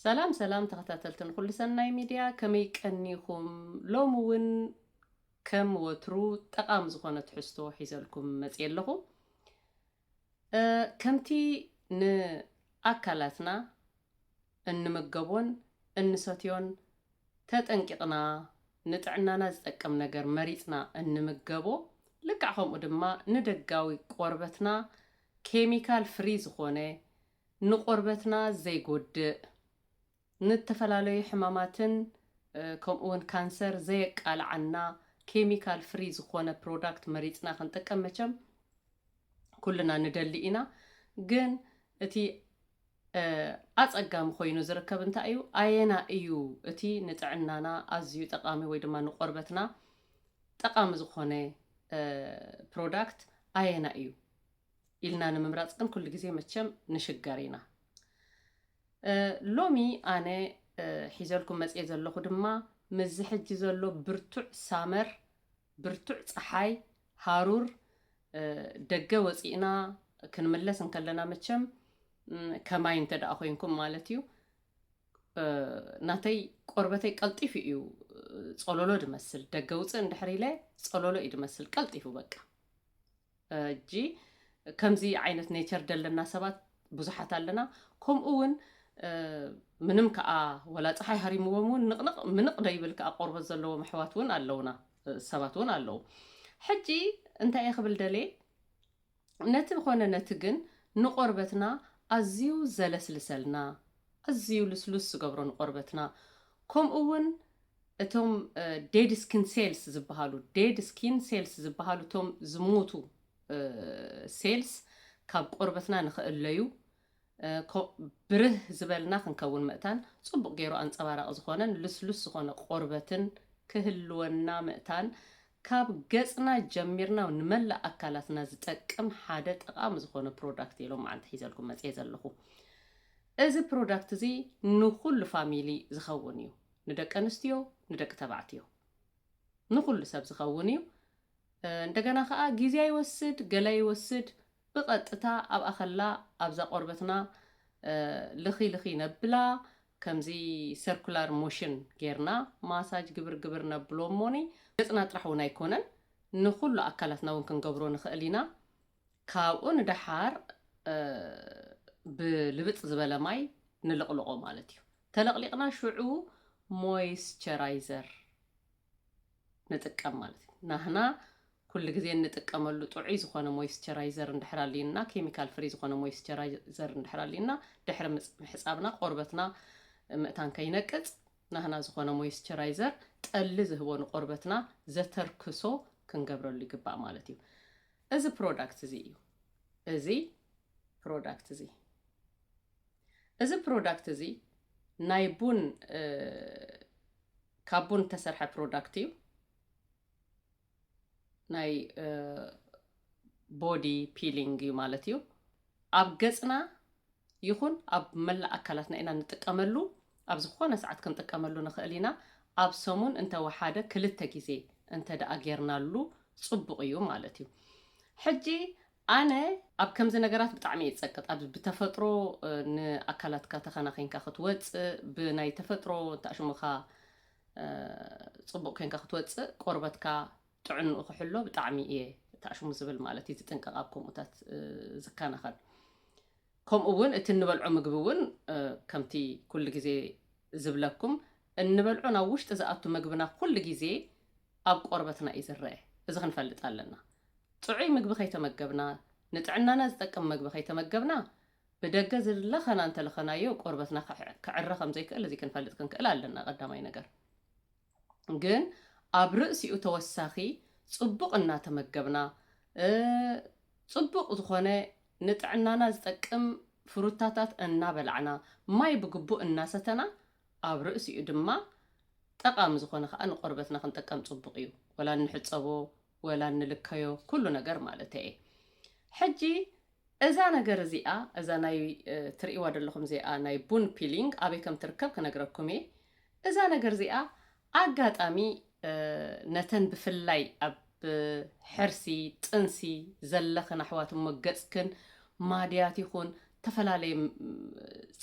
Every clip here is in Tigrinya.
ሰላም ሰላም ተኸታተልትን ኩሉ ሰናይ ሚድያ ከመይ ቀኒኹም? ሎሚ እውን ከም ወትሩ ጠቓሚ ዝኾነ ትሕዝቶ ሒዘልኩም መፅየ ኣለኹ። ከምቲ ንኣካላትና እንምገቦን እንሰትዮን ተጠንቂቕና ንጥዕናና ዝጠቅም ነገር መሪጽና እንምገቦ፣ ልክዕ ከምኡ ድማ ንደጋዊ ቆርበትና ኬሚካል ፍሪ ዝኾነ ንቆርበትና ዘይጎድእ፣ ንእተፈላለዩ ሕማማትን ከምኡ ውን ካንሰር ዘየቃልዓና ኬሚካል ፍሪ ዝኾነ ፕሮዳክት መሪጽና ክንጥቀም መቸም ኩልና ንደሊ ኢና ግን እቲ ኣጸጋሚ ኮይኑ ዝርከብ እንታይ እዩ ኣየና እዩ እቲ ንጥዕናና ኣዝዩ ጠቃሚ ወይ ድማ ንቆርበትና ጠቃሚ ዝኾነ ፕሮዳክት ኣየና እዩ ኢልና ንምምራጽ ግን ኩሉ ግዜ መቸም ንሽገር ኢና። ሎሚ ኣነ ሒዘልኩም መጽየ ዘለኹ ድማ ምስዚ ሕጂ ዘሎ ብርቱዕ ሳመር ብርቱዕ ጸሓይ ሃሩር ደገ ወጺእና ክንምለስ እንከለና መቸም ከማይ እንተ ደኣ ኮይንኩም ማለት እዩ ናተይ ቆርበተይ ቀልጢፉ እዩ ጸሎሎ ድመስል ደገ ውጽእ እንድሕር ኢለ ጸሎሎ እዩ ድመስል ቀልጢፉ በቃ ሕጂ ከምዚ ዓይነት ኔቸር ደለና ሰባት ብዙሓት ኣለና ከምኡ ውን ምንም ከኣ ወላ ጸሓይ ሃሪምዎም ውን ንቕንቕ ምንቕ ደይብል ከኣ ቆርበት ዘለዎም ኣሕዋት ውን ኣለውና ሰባት ውን ኣለዉ ሕጂ እንታይ እየ ክብል ደልየ ነቲ ኾነ ነቲ ግን ንቆርበትና ኣዝዩ ዘለስልሰልና ኣዝዩ ልስሉስ ዝገብሮ ንቆርበትና ከምኡ ውን እቶም ዴድ ስኪን ሴልስ ዝበሃሉ፣ Dead Skin Cells፣ ዝበሃሉ እቶም ዝሞቱ ሴልስ ካብ ቆርበትና ንኽእለዩ፣ ብርህ ዝበልና ክንከውን ምእታን፣ ጽቡቕ ገይሩ ኣንጸባራቒ ዝኾነን ልስሉስ ዝኾነ ቆርበትን ክህልወና ምእታን ካብ ገጽና ጀሚርና ንመላእ ኣካላትና ዝጠቅም ሓደ ጠቓሚ ዝኾነ ፕሮዳክት እየ ሎምዓንቲ ሒዘልኩም መጽየ ዘለኹ። እዚ ፕሮዳክት እዚ ንኹሉ ፋሚሊ ዝኸውን እዩ። ንደቂ ኣንስትዮ ንደቂ ተባዕትዮ ንኹሉ ሰብ ዝኸውን እዩ እንደገና ከኣ ግዜ ኣይወስድ ገለ ኣይወስድ ብቐጥታ ኣብኣ ከላ ኣብዛ ቆርበትና ልኺ ልኺ ነብላ ከምዚ ሰርኩላር ሞሽን ጌርና ማሳጅ ግብር ግብር ነብሎ እሞኒ ገጽና ጥራሕ እውን ኣይኮነን ንኹሉ ኣካላትና እውን ክንገብሮ ንኽእል ኢና ካብኡ ንደሓር ብልብጽ ዝበለ ማይ ንልቕልቖ ማለት እዩ። ተለቕሊቕና ሽዑ ሞይስቸራይዘር ንጥቀም ማለት እዩ። ናህና ኩሉ ግዜ እንጥቀመሉ ጥዑይ ዝኾነ ሞይስቸራይዘር እንድሕር ኣልዩና ኬሚካል ፍሪ ዝኾነ ሞይስቸራይዘር እንድሕር ኣልዩና ድሕሪ ምሕፃብና ቆርበትና ምእታን ከይነቅፅ ናህና ዝኾነ ሞይስቸራይዘር ጠሊ ዝህቦ ንቆርበትና ዘተርክሶ ክንገብረሉ ይግባእ ማለት እዩ። እዚ ፕሮዳክት እዚ እዩ እዚ ፕሮዳክት እዚ እዚ ፕሮዳክት እዚ ናይ ቡን ካብ ቡን እተሰርሐ ፕሮዳክት እዩ ናይ ቦዲ ፒሊንግ እዩ ማለት እዩ ኣብ ገጽና ይኹን ኣብ መላእ ኣካላትና ኢና ንጥቀመሉ፣ ኣብ ዝኾነ ሰዓት ክንጥቀመሉ ንኽእል ኢና፣ ኣብ ሰሙን እንተ ወሓደ ክልተ ግዜ እንተ ደኣ ጌርናሉ ጽቡቕ እዩ ማለት እዩ። ሕጂ ኣነ ኣብ ከምዚ ነገራት ብጣዕሚ እየ ዝጸቅጥ፣ ኣብ ብተፈጥሮ ንኣካላትካ ተኸናኺንካ ክትወጽእ፣ ብናይ ተፈጥሮ እንታይ ሽምኻ ጽቡቕ ኴንካ ክትወጽእ ቆርበትካ ጥዕንኡ ክሕሎ ብጣዕሚ እየ ታኣሽሙ ዝብል ማለት እዩ ዝጥንቀቅ ኣብ ከምኡታት ዝከናኸን ከምኡ እውን እቲ እንበልዖ ምግቢ እውን ከምቲ ኩሉ ግዜ ዝብለኩም እንበልዖ ናብ ውሽጢ ዝኣቱ ምግብና ኩሉ ግዜ ኣብ ቆርበትና እዩ ዝረአ እዚ ክንፈልጥ ኣለና ጥዑይ ምግቢ ከይተመገብና ንጥዕናና ዝጠቅም ምግቢ ከይተመገብና ብደገ ዝለኸና እንተለኸናዮ ቆርበትና ክዕረ ከም ዘይክእል እዚ ክንፈልጥ ክንክእል ኣለና ቀዳማይ ነገር ግን ኣብ ርእሲኡ ተወሳኺ ጽቡቕ እናተመገብና ጽቡቕ ዝኾነ ንጥዕናና ዝጠቅም ፍሩታታት እናበላዕና ማይ ብግቡእ እናሰተና ኣብ ርእሲኡ ድማ ጠቓሚ ዝኾነ ከኣ ንቆርበትና ክንጥቀም ጽቡቕ እዩ ወላ እንሕጸቦ ወላ እንልከዮ ኩሉ ነገር ማለተይ'የ። ሕጂ እዛ ነገር እዚኣ እዛ ናይ ትርእይዋ ዘለኹም እዚኣ ናይ ቡን ፒሊንግ ኣበይ ከም ትርከብ ክነግረኩም እየ። እዛ ነገር እዚኣ ኣጋጣሚ ነተን ብፍላይ ኣብ ሕርሲ ጥንሲ ዘለኽን ኣሕዋት እሞ ገጽክን ማድያት ይኹን ተፈላለየ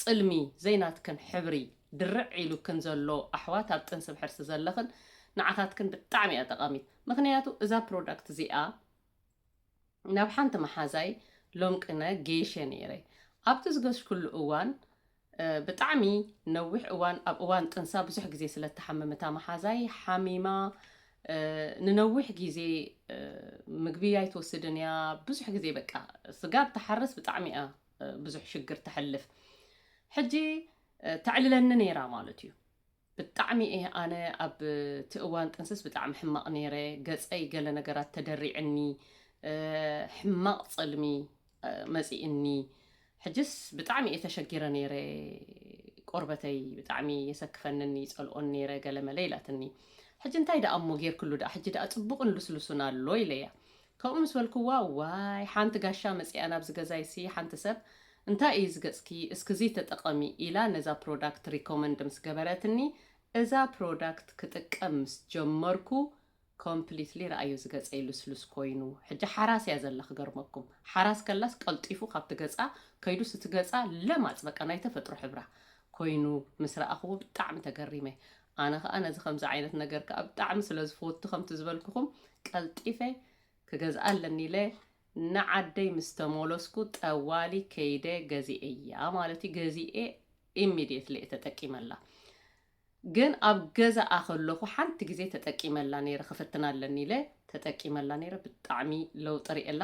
ጽልሚ ዘይናትክን ሕብሪ ድርዕ ኢሉክን ዘሎ ኣሕዋት ኣብ ጥንሲ ብሕርሲ ዘለኽን ንዓኻትክን ብጣዕሚ እያ ጠቓሚት። ምኽንያቱ እዛ ፕሮዳክት እዚኣ ናብ ሓንቲ መሓዛይ ሎምቅነ ገይሸ ነይረ። ኣብቲ ዝገሽኩሉ እዋን ብጣዕሚ ነዊሕ እዋን ኣብ እዋን ጥንሳ ብዙሕ ግዜ ስለ እትሓምም እታ መሓዛይ ሓሚማ ንነዊሕ ግዜ ምግቢ ኣይትወስድን እያ። ብዙሕ ግዜ በቃ ስጋብ ትሓርስ ብጣዕሚ እያ ብዙሕ ሽግር ተሕልፍ። ሕጂ ተዕልለኒ ነይራ ማለት እዩ። ብጣዕሚ እየ ኣነ ኣብ እቲ እዋን ጥንስስ ብጣዕሚ ሕማቅ ነይረ ገፀይ ገለ ነገራት ተደሪዕኒ ሕማቅ ፅልሚ መፂእኒ ሕጅስ ብጣዕሚ እየ ተሸጊረ ነይረ ቆርበተይ ብጣዕሚ የሰክፈንኒ ይፀልኦን ነይረ ገለመለ ኢላትኒ ሕጂ እንታይ ደኣ እሞ ጌርክሉ ደኣ ሕጂ ደኣ ፅቡቅን ልስሉሱን ኣሎ ኢለያ ካብኡ ምስ በልክዋ ዋይ ሓንቲ ጋሻ መጺኣ ናብዚ ገዛይሲ ሓንቲ ሰብ እንታይ እዩ እዚ ገጽኪ እስኪ እዚ ተጠቐሚ ኢላ ነዛ ፕሮዳክት ሪኮመንድ ምስ ገበረትኒ እዛ ፕሮዳክት ክጥቀም ምስ ጀመርኩ ኮምፕሊትሊ ረኣዮ እዚ ገጸይ ልስሉስ ኮይኑ ሕጂ ሓራስ እያ ዘላ ክገርመኩም ሓራስ ከላስ ቀልጢፉ ካብቲ ገጻ ከይዱስ እቲ ገጻ ለማጽ በቃ ናይ ተፈጥሮ ሕብራ ኮይኑ ምስ ረኣኽዎ ብጣዕሚ ተገሪመ ኣነ ከኣ ነዚ ከምዚ ዓይነት ነገር ከኣ ብጣዕሚ ስለ ዝፈቱ ከምቲ ዝበልኩኹም ቀልጢፈ ክገዝኣ ኣለኒ ኢለ ንዓደይ ምስ ተመለስኩ ጠዋሊ ከይደ ገዚኤያ ማለት እዩ ገዚኤ ኢሚድየትሊ እየ ተጠቂመላ ግን ኣብ ገዛኣ ከለኹ ሓንቲ ግዜ ተጠቂመላ ነይረ ክፍትና ኣለኒ ኢለ ተጠቂመላ ነይረ ብጣዕሚ ለውጢ ርእየላ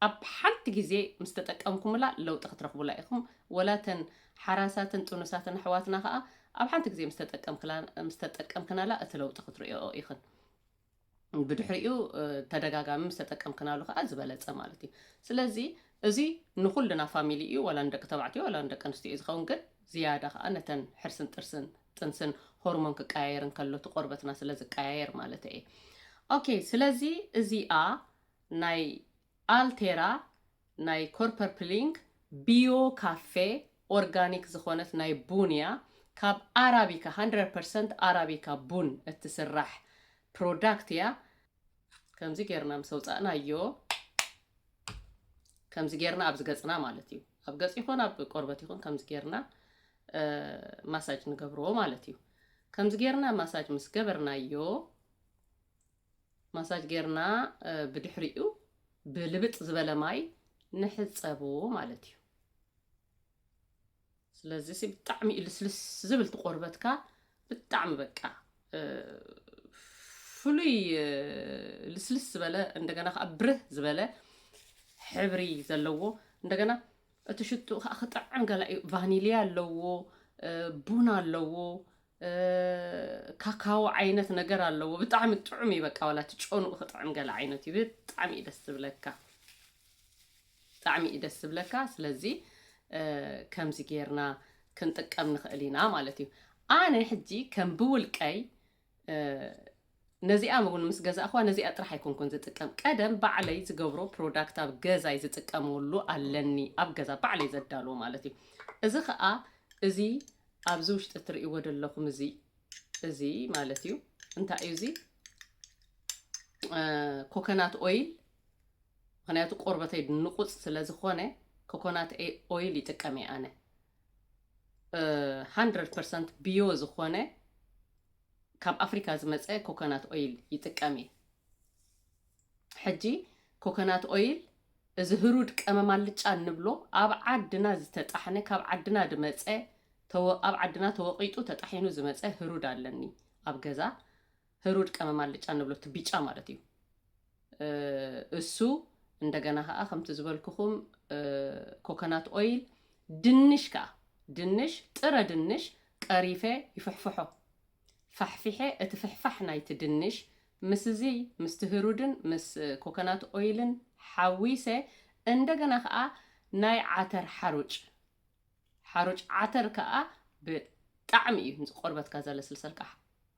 ኣብ ሓንቲ ግዜ ምስ ተጠቀምኩምላ ለውጢ ክትረኽቡላ ኢኹም ወላ እተን ሓራሳትን ጥኑሳትን ኣሕዋትና ከኣ ኣብ ሓንቲ ግዜ ምስ ተጠቀምክላ ምስ ተጠቀምክናላ እቲ ለውጢ ክትርእይኦ ኢኽን። ብድሕሪኡ ተደጋጋሚ ምስ ተጠቀምክናሉ ከኣ ዝበለጸ ማለት እዩ። ስለዚ እዚ ንኹልና ፋሚሊ እዩ ወላ ንደቂ ተባዕትዮ ወላ ንደቂ ኣንስትዮ እዩ ዝኸውን ግን ዝያዳ ከኣ ነተን ሕርስን ጥርስን ጥንስን ሆርሞን ክቀያየር እንከሎ እቲ ቆርበትና ስለ ዝቀያየር ማለት እየ። ኦኬ ስለዚ እዚኣ ናይ ኣልቴራ ናይ ኮርፐርፕሊንግ ቢዮ ካፌ ኦርጋኒክ ዝኾነት ናይ ቡን እያ ካብ ኣራቢካ ሃንድረድ ፐርሰንት ኣራቢካ ቡን እትስራሕ ፕሮዳክት እያ ከምዚ ጌርና ምስ ኣውጻእናዮ ከምዚ ጌርና ኣብዚ ገጽና ማለት እዩ ኣብ ገጽ ይኹን ኣብ ቆርበት ይኹን ከምዚ ጌርና ማሳጅ ንገብርዎ ማለት እዩ ከምዚ ጌርና ማሳጅ ምስ ገበርናዮ ማሳጅ ጌርና ብድሕሪኡ ብልብጥ ዝበለ ማይ ንሕፀቦ ማለት እዩ ስለዚ ሲ ብጣዕሚ እዩ ልስልስ ዝብል ትቆርበትካ ብጣዕሚ በቃ ፍሉይ ልስልስ ዝበለ እንደገና ከዓ ብርህ ዝበለ ሕብሪ ዘለዎ እንደገና እቲ ሽትኡ ከዓ ክጥዕም ገላ እዩ ቫኒልያ ኣለዎ ቡን ኣለዎ ካካዎ ዓይነት ነገር ኣለዎ ብጣዕሚ ጥዑም እዩ በቃ ዋላ እቲ ጨኑኡ ክጥዕም ገለ ዓይነት እዩ ብጣዕሚ እዩ ደስ ዝብለካ ብጣዕሚ እዩ ደስ ዝብለካ ስለዚ ከምዚ ጌርና ክንጥቀም ንኽእል ኢና ማለት እዩ ኣነ ሕጂ ከም ብውልቀይ ነዚኣ ውን ምስ ገዛእክዋ ነዚኣ ጥራሕ ኣይኮንኩን ዝጥቀም ቀደም ባዕለይ ዝገብሮ ፕሮዳክት ኣብ ገዛይ ዝጥቀመሉ ኣለኒ ኣብ ገዛ ባዕለይ ዘዳልዎ ማለት እዩ እዚ ከዓ እዚ ኣብዚ ውሽጢ ትርእይዎ ዘለኹም እዚ እዚ ማለት እዩ እንታይ እዩ እዚ ኮኮናት ኦይል ምክንያቱ ቆርበተይ ንቁፅ ስለ ዝኾነ ኮኮናት ኦይል ይጥቀም እየ ኣነ ሃንድረድ ፐርሰንት ብዮ ዝኾነ ካብ ኣፍሪካ ዝመፀ ኮኮናት ኦይል ይጥቀም እየ። ሕጂ ኮኮናት ኦይል እዚ ህሩድ ቀመም ኣልጫ እንብሎ ኣብ ዓድና ዝተጣሕነ ካብ ዓድና ድመፀ ተወ ኣብ ዓድና ተወቂጡ ተጣሒኑ ዝመፀ ህሩድ ኣለኒ ኣብ ገዛ ህሩድ ቀመም ኣልጫ እንብሎ እቲ ቢጫ ማለት እዩ። እሱ እንደገና ከኣ ከምቲ ዝበልኩኹም ኮኮናት ኦይል ድንሽ ከኣ ድንሽ ጥረ ድንሽ ቀሪፈ ይፍሕፍሖ ፋሕፊሐ እቲ ፍሕፋሕ ናይቲ ድንሽ ምስዚ ምስቲ ህሩድን ምስ ኮኮናት ኦይልን ሓዊሰ እንደገና ከኣ ናይ ዓተር ሓሩጭ ሓሩጭ ዓተር ከኣ ብጣዕሚ እዩ ንቆርበትካ ዘለስልሰልካ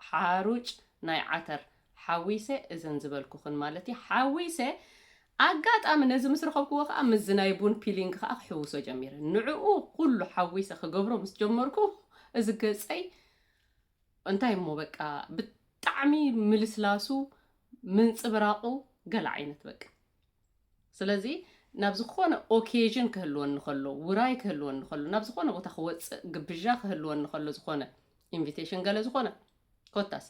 ሓሩጭ ናይ ዓተር ሓዊሰ እዘን ዝበልኩኽን ማለት እዩ ሓዊሰ ኣጋጣሚ ነዚ ምስ ረኸብክዎ ከዓ ምስዚ ናይ ቡን ፒሊንግ ከዓ ክሕውሶ ጀሚረ ንዕኡ ኩሉ ሓዊሰ ክገብሮ ምስ ጀመርኩ እዚ ገፀይ እንታይ እሞ በቃ ብጣዕሚ ምልስላሱ ምንፅብራቑ ገለ ዓይነት በቃ ስለዚ ናብ ዝኾነ ኦኬዥን ክህልወኒ ከሎ፣ ውራይ ክህልወኒ ከሎ፣ ናብ ዝኾነ ቦታ ክወፅእ ግብዣ ክህልወኒ ከሎ ዝኾነ ኢንቪቴሽን ገለ ዝኾነ ኮታስ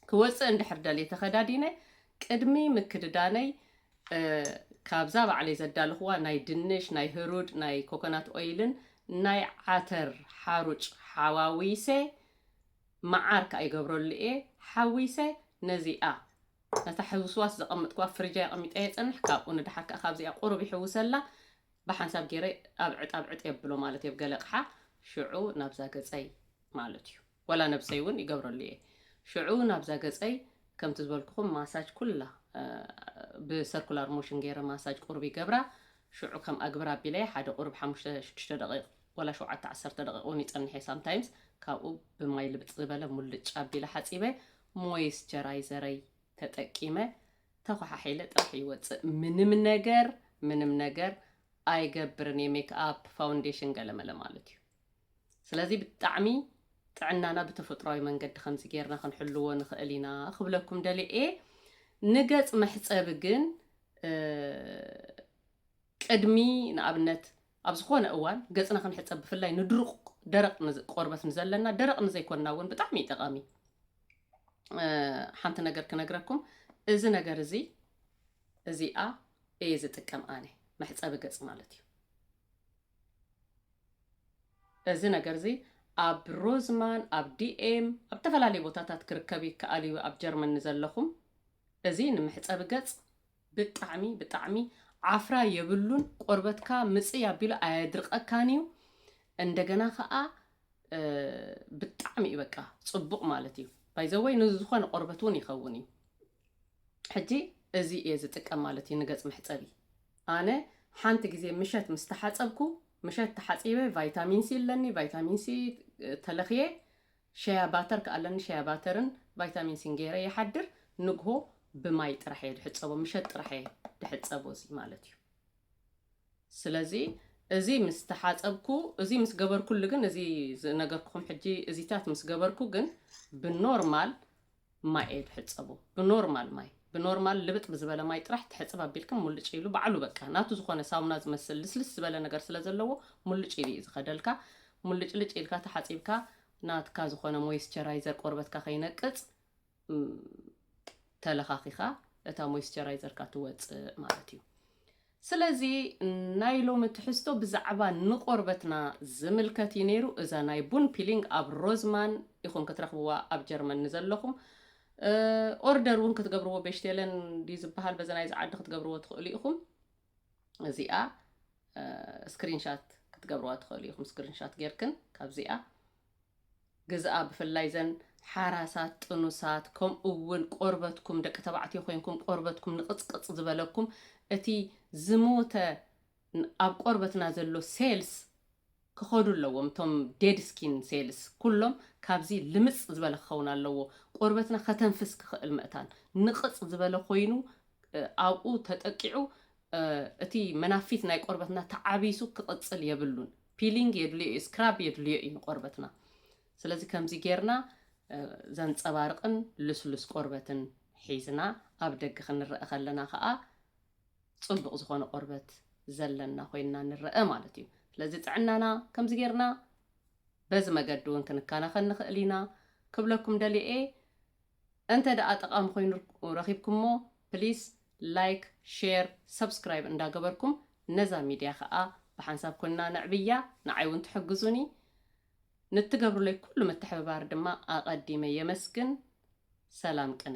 ክወፅእ እንድሕር ደልየ ተኸዳዲነ ቅድሚ ምክድዳነይ ካብዛ ባዕለይ ዘዳለኽዋ ናይ ድንሽ ናይ ህሩድ ናይ ኮኮናት ኦይልን ናይ ዓተር ሓሩጭ ሓዋዊሰ መዓር ከዓ ይገብረሉ እየ ሓዊሰ ነዚኣ ነታ ሕውስዋስ ዘቐመጥክዋ ፍርጃይ ኣቐሚጠያ ይጸንሕ፣ ካብኡ ንደሓር ከኣ ካብዚኣ ቁሩብ ይሕውሰላ፣ ብሓንሳብ ጌረ ኣብ ዕጣብ ዕጥ የብሎ ማለት እየ ብ ገለ ኣቕሓ፣ ሽዑ ናብዛ ገጸይ ማለት እዩ ዋላ ነብሰይ ውን ይገብረሉ እየ፣ ሽዑ ናብዛ ገጸይ ከምቲ ዝበልኩኹም ማሳጅ ኩላ ብ ሰርኩላር ሞሽን ጌረ ማሳጅ ቁሩብ ይገብራ፣ ሽዑ ከም ኣግብር ኣቢለያ ሓደ ቁሩብ ሓሙሽተ ሽዱሽተ ደቒቕ ዋላ ሸውዓተ ዓሰርተ ደቒቕ ውን ይጸንሕ እየ ሳምታይምስ፣ ካብኡ ብማይ ልብጥ ዝበለ ሙልጭ ኣቢለ ሓጺበ ሞይስቸራይዘረይ ተጠቂመ ተኳሓሒለ ጥራሕ ይወፅእ ምንም ነገር ምንም ነገር ኣይገብርን እየ ሜክኣፕ ፋውንዴሽን ገለመለ ማለት እዩ ስለዚ ብጣዕሚ ጥዕናና ብተፈጥሯዊ መንገዲ ከምዚ ጌርና ክንሕልዎ ንኽእል ኢና ክብለኩም ደልየ እየ ንገፅ መሕፀቢ ግን ቅድሚ ንኣብነት ኣብ ዝኾነ እዋን ገጽና ክንሕጸብ ብፍላይ ንድሩቕ ደረቕ ቆርበት ንዘለና ደረቕ ንዘይኮንና እውን ብጣዕሚ እዩ ጠቓሚ እዩ ሓንቲ ነገር ክነግረኩም እዚ ነገር እዚ እዚኣ እየ ዝጥቀም ኣነ መሕፀቢ ገፅ ማለት እዩ እዚ ነገር እዚ ኣብ ሮዝማን ኣብ ዲኤም ኣብ ዝተፈላለዩ ቦታታት ክርከብ ይከኣል እዩ ኣብ ጀርመን ንዘለኹም እዚ ንምሕፀቢ ገፅ ብጣዕሚ ብጣዕሚ ዓፍራ የብሉን ቆርበትካ ምጽይ ኣቢሉ ኣየድርቀካን እዩ እንደገና ከኣ ብጣዕሚ እዩ በቃ ጽቡቅ ማለት እዩ ባይዘወይ ንዝኾነ ቆርበት እውን ይኸውን እዩ ሕጂ እዚ እየ ዝጥቀም ማለት እዩ ንገጽ መሕጸቢ ኣነ ሓንቲ ግዜ ምሸት ምስ ተሓጸብኩ ምሸት ተሓጺበ ቫይታሚን ሲ ኣለኒ ቫይታሚን ሲ ተለኽየ ሸያ ባተር ክኣ ኣለኒ ሸያ ባተርን ቫይታሚን ሲን ገይረ ይሓድር ንግሆ ብማይ ጥራሕ እየ ድሕጸቦ ምሸት ጥራሕ እየ ድሕጸቦ እዚ ማለት እዩ ስለዚ እዚ ምስ ተሓጸብኩ እዚ ምስ ገበርኩሉ ግን እዚ ዝነገርኩኹም ሕጂ እዚታት ምስ ገበርኩ ግን ብኖርማል ማይ ኣይትሕጸቡ ብኖርማል ማይ ብኖርማል ልብጥ ብዝበለ ማይ ጥራሕ ትሕጽብ ኣቢልክን ሙልጭ ኢሉ ባዕሉ በቃ ናቱ ዝኾነ ሳሙና ዝመስል ልስልስ ዝበለ ነገር ስለ ዘለዎ ሙልጭ ኢሉ እዩ ዝኸደልካ ሙልጭልጭ ኢልካ ተሓጺብካ ናትካ ዝኾነ ሞይስቸራይዘር ቆርበትካ ከይነቅጽ ተለኻኺኻ እታ ሞይስቸራይዘርካ ትወጽእ ማለት እዩ ስለዚ ናይ ሎሚ ትሕዝቶ ብዛዕባ ንቆርበትና ዝምልከት እዩ ነይሩ። እዛ ናይ ቡን ፒሊንግ ኣብ ሮዝማን ኢኹም ክትረኽብዋ ኣብ ጀርመን ንዘለኹም። ኦርደር እውን ክትገብርዎ ቤሽቴለን ድዩ ዝበሃል በዚ ናይዚ ዓዲ ክትገብርዎ ትኽእሉ ኢኹም። እዚኣ ስክሪንሻት ክትገብርዋ ትኽእሉ ኢኹም ስክሪንሻት ጌርክን ካብዚኣ ግዝኣ ብፍላይ እዘን ሓራሳት ጥኑሳት ከምኡ ውን ቆርበትኩም ደቂ ተባዕትዮ ኮይንኩም ቆርበትኩም ንቕጽቅጽ ዝበለኩም እቲ ዝሞተ ኣብ ቆርበትና ዘሎ ሴልስ ክኸዱ ኣለዎም እቶም ዴድ ስኪን ሴልስ ኩሎም ካብዚ ልምጽ ዝበለ ክኸውን ኣለዎ ቆርበትና ከተንፍስ ክኽእል መእታን ንቕጽ ዝበለ ኮይኑ ኣብኡ ተጠቂዑ እቲ መናፊት ናይ ቆርበትና ተዓቢሱ ክቕጽል የብሉን። ፒሊንግ የድልዮ እዩ ስክራብ የድልዮ እዩ ንቆርበትና ስለዚ ከምዚ ጌርና ዘንጸባርቕን ልስሉስ ቆርበትን ሒዝና ኣብ ደገ ክንረአ ከለና ከዓ ጽቡቕ ዝኾነ ቆርበት ዘለና ኮይንና ንረአ ማለት እዩ ስለዚ ጥዕናና ከምዚ ጌርና በዚ መገዲ እውን ክንከናኸን ንኽእል ኢና ክብለኩም ደልየ እንተ ደኣ ጠቓሚ ኮይኑ ረኺብኩሞ ፕሊስ ላይክ ሼር ሰብስክራይብ እንዳ ገበርኩም ነዛ ሚድያ ከኣ ብሓንሳብ ኮንና ነዕብያ ንዓይ ውን ትሕግዙኒ ንትገብሩለይ ኩሉ ምትሕብባር ድማ ኣቐዲመ የመስግን ሰላም ቅነ።